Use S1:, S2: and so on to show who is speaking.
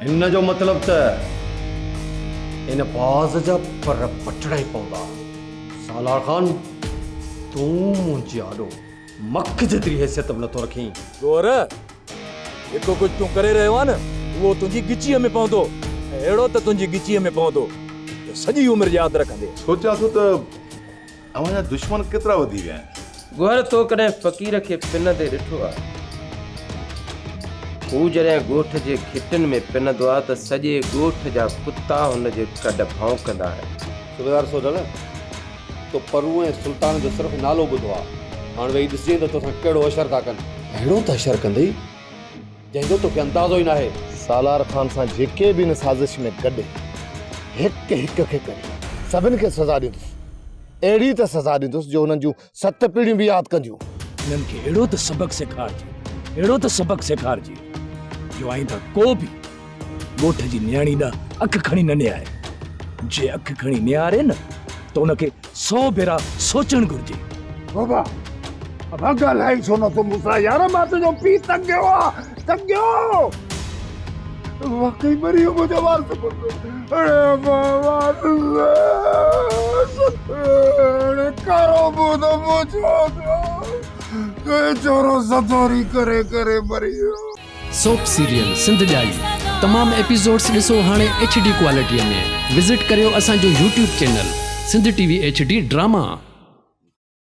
S1: هن جو مطلب ته ان باز جا پر پٽڻا ئي پوندا. سالار خان، تون منهنجي آڏو مک جيتري حيثيت به نٿو رکين. گور،
S2: جيڪو ڪجهه تون ڪري رهيو آهين نه، اهو تنهنجي ڳچيء ۾ پوندو ۽ اهڙو ته تنهنجي ڳچيء ۾ پوندو، جو سڄي عمر ياد رکندينء. سوچيان ٿو ته
S3: اوهان جا دشمن ڪيترا وڌي ويا آهن. گوهر تو ڪڏهن
S4: فقير کي پنندي ڏٺو آ؟ هو جڏهن ڳوٺ جي گهٽين ۾ پنندو آ ته سڄي ڳوٺ جا ڪتا هن جي ڪڍ ڀونڪندا آهن. صوبيدار سوڍل،
S5: تو پرون ۽ سلطان جو صرف نالو ٻڌو آ. هاڻ ويهي ڏسجين ته توسان ڪهڙو حشر ٿا ڪن. اهڙو ته حشر ڪندئي. جنهن جو توکي اندازو ئي ناهي. سالار خان سان
S6: جيڪي به ان سازش ۾ گڏ هڪ هڪ کي ڪري سڀن کي سزا ڏيندس. اهڙي ته سزا ڏيندس جو انهن جون ست پيڙهيون به ياد ڪنديون. انهن کي اهڙو ته
S2: سبق سيکارجي اهڙو ته سبق سيکارجي جو آئنده ڪو به ڳوٺ جي نياڻي ڏانهن اک کڻي نه نهاري. جي اک کڻي نهاري نه ته ان کي سو ڀيرا سوچڻ گهرجي. بابا
S6: ابا ڳالهائي ڇو نه ٿو مون سان يار مان تنهنجو پيء تنگيو آ تنگيو واقعي مري ويو منهنجو وارث پٽ اڙي ابا وارث اڙي ڪارو منهن ته مون ڇو ٿيو تنهنجو ڇورو زدوري ڪري ڪري مري ويو. سوپ سيريل
S7: سنڌ ڄائي تمام ايپيسوڊس ڏسو هاڻي ايڇ ڊي ڪوالٽي ۾ وزٽ ڪريو اسان جو YouTube channel Sindh T V H D drama.